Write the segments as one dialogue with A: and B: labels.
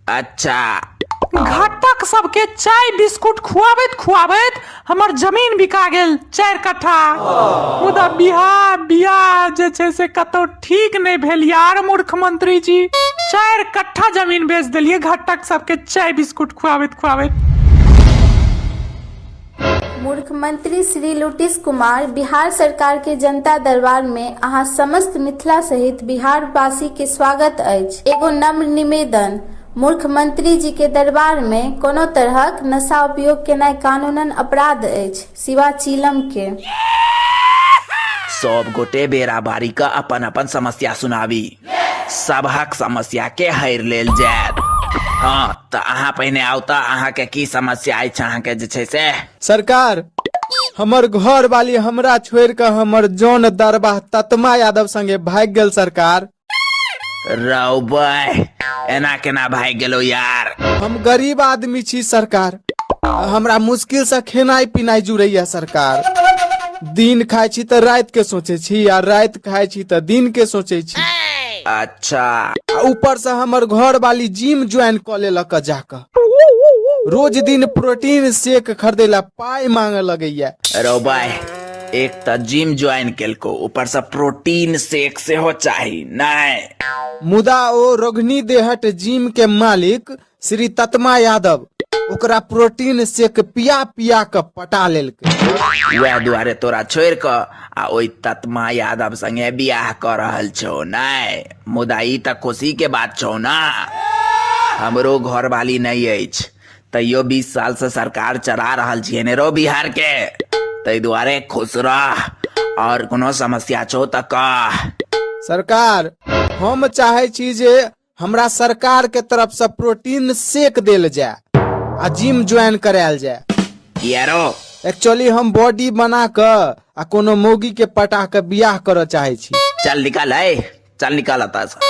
A: अच्छा
B: घटक सबके चाय बिस्कुट खुआबैत खुआबैत हमर जमीन बिका गेल चारि कट्ठा मुदा बिहार बियाह जे छै से कतौ ठीक नहि भेल यार मूर्ख मंत्री जी चारि कट्ठा जमीन बेच देलियै घटक सबके चाय बिस्कुट खुआबैत खुआबैत
C: मूर्ख मंत्री श्री लुटिस कुमार बिहार सरकार के जनता दरबार में अहाँ समस्त मिथिला सहित बिहार वासी के स्वागत अछि एगो नम्र निवेदन मूर्ख मंत्री जी के दरबार में कोनो तरहक नशा उपयोग केनाइ कानूनन अपराध अछि सिवा चीलम के
A: सब गोटे बेरा बारी क अपन अपन समस्या सुनावी सभक समस्या के हरि लेल जायत हँ तऽ अहाँ पहिने आउ तऽ अहाँके की समस्या अछि अहाँके जे छै से सरकार
D: हमर घर वाली हमरा छोड़ के हमर जौन दरबाह ततमा यादव संगे भाग गेल सरकार
A: रौ बय एना केना भागि गेलो यार हम गरीब
D: आदमी छी सरकार हमरा मुश्किल से खेनाई पिनाई जुड़ैया सरकार दिन खाइ छी तऽ राति के सोचे छी आ राति खाय छी तऽ दिन के सोचे छी अच्छा
A: आ ऊपर से
D: हमर घर वाली जिम ज्वाइन क लेलक ह जाकऽ रोज दिन प्रोटीन शेक खरीदे ला पाय मांगे लगैया रो भाई
A: एक त जिम ज्वाइन केलको ऊपर से प्रोटीन शेक सेहो चाही नहीं मुदा ओ
D: रोगनी देहट जिम के मालिक श्री ततमा यादव ओकरा प्रोटीन शेक पिया पिया के पटा लेलकै वएह दुआरे तोरा
A: छोड़ि कऽ आ ओहि तत्मा यादव संगे बियाह कऽ रहल छौ नहि मुदा ई तऽ खुशी के बात छौ ना हमरो घरवाली नहि अछि तैयो बीस साल से सरकार चला रहल छियै ने रो बिहार के ताहि दुआरे खुश रह और कोनो समस्या छौ तऽ कह सरकार
D: हम चाहै छी जे हमरा सरकार के तरफ से प्रोटीन शेक देल जाए आ जिम ज्वाइन करायल जाए यारो
A: एक्चुअली हम
D: बॉडी बना क आ कोनो मौगी के पटा के बियाह करऽ चाहे छी चल निकाल है
A: चल निकाल आता है सब।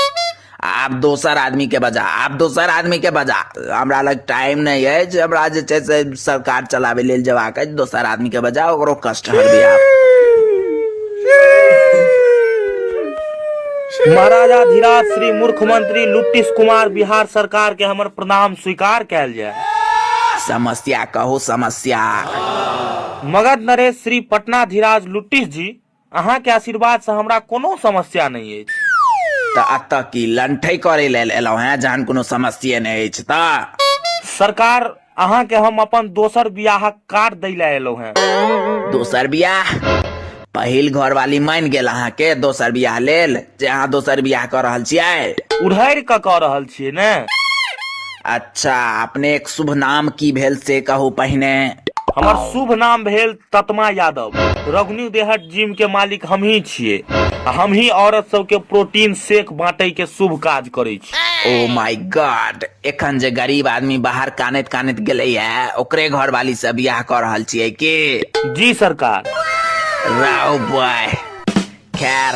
A: आप दोसर आदमी के बजा आप दोसर आदमी के बजा हमरा लग टाइम नहि अछि हमरा जे छै से सरकार चलाबै लेल जेबाक अछि दोसर आदमीके बजाय ओकरो कष्ट हरबै आब
E: महाराजा धीराज श्री मुख्यमंत्री लुटिस कुमार बिहार सरकार के हमर प्रणाम स्वीकार कयल जाय समस्या
A: कहू समस्या
E: मगध नरेश श्री पटना धीराज लुटिस जी अहाँके आशीर्वादसँ हमरा कोनो समस्या नहि अछि तऽ एतऽ
A: की लंठै करै लेल एलहुँ हैं जहन कोनो समस्ये नहि अछि तऽ सरकार
E: अहाँके हम अपन दोसर बियाहक कार्ड दै लए एलहुँ हैं दोसर
A: बियाह पहिल घरवाली मानि गेल अहाँके दोसर बियाह लेल जे अहाँ दोसर बियाह कऽ रहल छियै उधैर कऽ कऽ
E: रहल छियै ने
A: अच्छा अपने एक शुभ नाम की भेल से कहू पहिने हमर शुभ
E: नाम भेल ततमा यादव रघुनी देहट जिम के मालिक हम ही छिए हम ही औरत सब के प्रोटीन शेक बांटे के शुभ काज करे छी ओ माय गॉड
A: एखन जे गरीब आदमी बाहर कानैत कानैत गेलै है ओकरे घर वाली से बियाह कर रहल छियै की जी सरकार
E: राव
A: बॉय खैर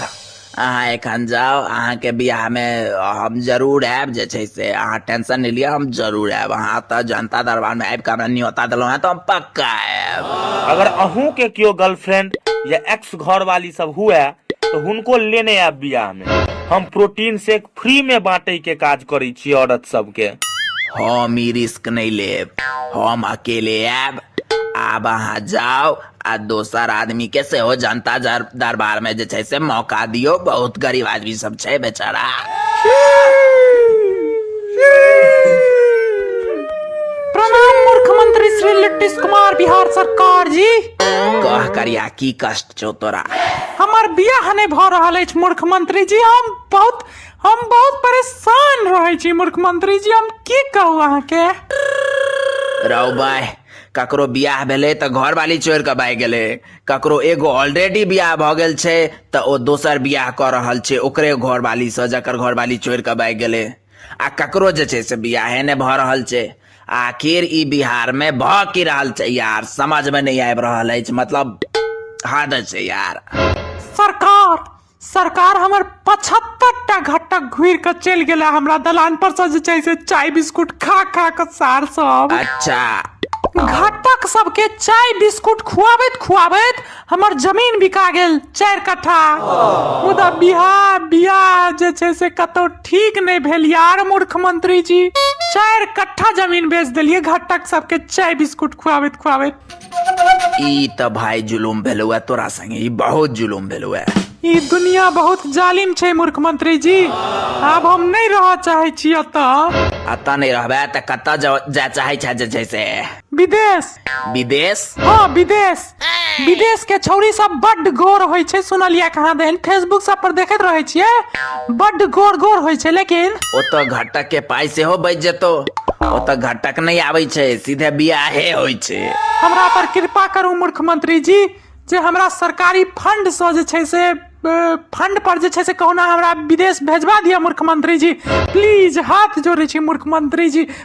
A: अहाँ एखन जाउ अहाँके बियाहमे हम जरूर आयब जे छै से अहाँ टेंशन नहि लिअ हम जरूर आयब अहाँ तऽ जनता दरबारमे आबि कऽ हमरा न्योता देलहुँ हेँ तऽ हम पक्का आयब अगर अहूँ
E: के केओ गर्लफ्रेंड या एक्स घर वाली सब हुए तो हुनको लेने आयब बियाह में हम प्रोटीन शेक फ्री में बांटे के काज करे छी औरत सबके हम ई
A: रिस्क नहि लेब हम अकेले आयब आब अहाँ जाउ आ दोसर आदमी के सेहो जनता जर- दरबार में जे छै से मौका दियो बहुत गरीब आदमी सब छै बेचारा
B: प्रणाम मूर्ख मंत्री श्री लिटिश कुमार बिहार सरकार जी कह
A: करिया की कष्ट छो तोरा हमर बियाह
B: नहि भऽ रहल अछि मूर्ख मंत्री जी हम बहुत हम बहुत परेशान रहै छी मूर्ख मंत्री जी हम की कहू अहाँके
A: रौ बाय ककरो बियाह भेलै तऽ घरवाली चोरि कऽ भागि गेलै ककरो एगो ऑलरेडी बियाह भऽ गेल छै तऽ ओ दोसर बियाह कऽ रहल छै ओकरे घरवालीसँ जकर घरवाली चोरि कऽ भागि गेलै आ ककरो जे छै से बियाहे नहि भऽ रहल छै आखिर ई बिहारमे भऽ की रहल छै यार समझमे नहि आबि रहल अछि मतलब हद छै यार सरकार
B: सरकार हमर पचहत्तर टा घटक घुरि कऽ चलि गेला हमरा दलान पर से जे छै से चाय बिस्कुट खा खा कऽ सार सब अच्छा घटक सबके चाय बिस्कुट खुआबैत खुआबैत हमर जमीन बिका गेल चारि कट्ठा मुदा बिहार बियाह जे छै से कतौ ठीक नहि भेल यार मूर्ख मंत्री जी चारि कट्ठा जमीन बेच देलिए घटक सबके चाय बिस्कुट खुआबैत खुआबैत ई त भाई
A: जुलूम भेलुआ तोरा संगे ई बहुत जुलूम भेलुआ ई दुनिया
B: बहुत जालिम छै मूर्ख मंत्री जी आब हम नहीं रह चाहे छी एतऽ अतऽ
A: नहीं रहबे त कतऽ जाओ- जाय चाहे छै जे छै से विदेश
B: विदेश
A: हाँ विदेश
B: विदेश के छौरी सब बड गोर होय छै सुनलिया कहाँ देन फेसबुक सब पर देखैत रहे छियै बड्ड गोर गोर होइ छै लेकिन ओतऽ घटक के
A: पाइ सेहो बच जेतो ओतऽ घटक नहि आबै छै सीधे बियाहे होइ छै हमरा पर कृपा
B: करू मूर्ख मंत्री जी जे हमरा सरकारी फंड सँ जे छै से अ, फंड पर जे छै से कहुना हमरा विदेश भेजबा दिअ मूर्ख मंत्री जी प्लीज हाथ जोड़ै छी मूर्ख मंत्री जी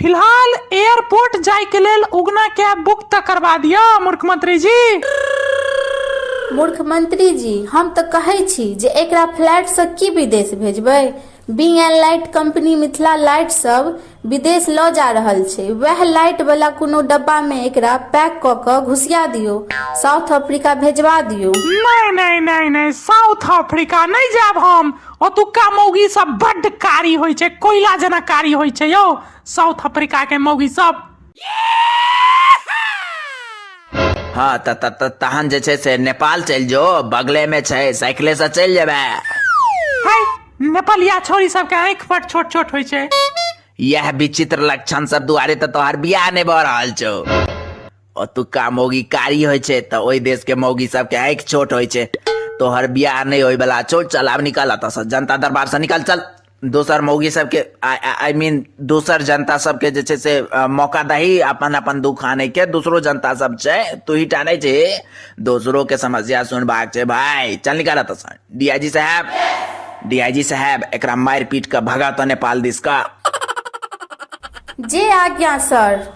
A: फिलहाल
B: एयरपोर्ट जायके लेल उगना कैब बुक तऽ करबा दिअ मुख्यमंत्री जी
C: मुख्यमंत्री जी हम तऽ कहै छी जे एकरा फ्लैटसँ की विदेश भेजबै B N light company Mithila light सब विदेश लऽ जा रहल छै वएह लाइट वाला कोनो डब्बा मे एकरा पैक कऽ कऽ घुसिया दियौ साउथ अफ्रीका भेजवा दियौ नहि नहि नहि नहि
B: साउथ अफ्रीका नहि जायब हम ओतुका मौगी सब बड्ड कारी होइ छै कोयला जेना कारी होइ छै यौ साउथ अफ्रीका के मौगी सब
A: हाँ त त त तहन जे छै से नेपाल चलि जो बगले में छै साइकिले से चलि जेबै हाय
B: नेपालिया छोरी सबके आँखि पर छोट छोट होइ छै यह विचित्र
A: लक्षण सब दुआरे त तोहर बियाह नहि भऽ रहल छौ ओतुका मौगी कारी होइ छै तऽ ओहि देश के मौगी सबके आँखि छोट होइ छै तोहर बियाह नहि होय बला छौ चल आब निकल एतऽ से जनता दरबार से निकल चल दोसर मौगी सबके आई मीन दोसर जनता सबके जे छै से अ, मौका दही अपन अपन दुख आने के दोसरो जनता सब छै तू ही टा नहि छै दोसरो के समस्या सुनबाक छै भाई चल निकल एतऽ से डीआईजी साहब डीआईजी साहब एकरा मारि पीट के भगा तऽ नेपाल दिस का
C: जे आज्ञा
B: सर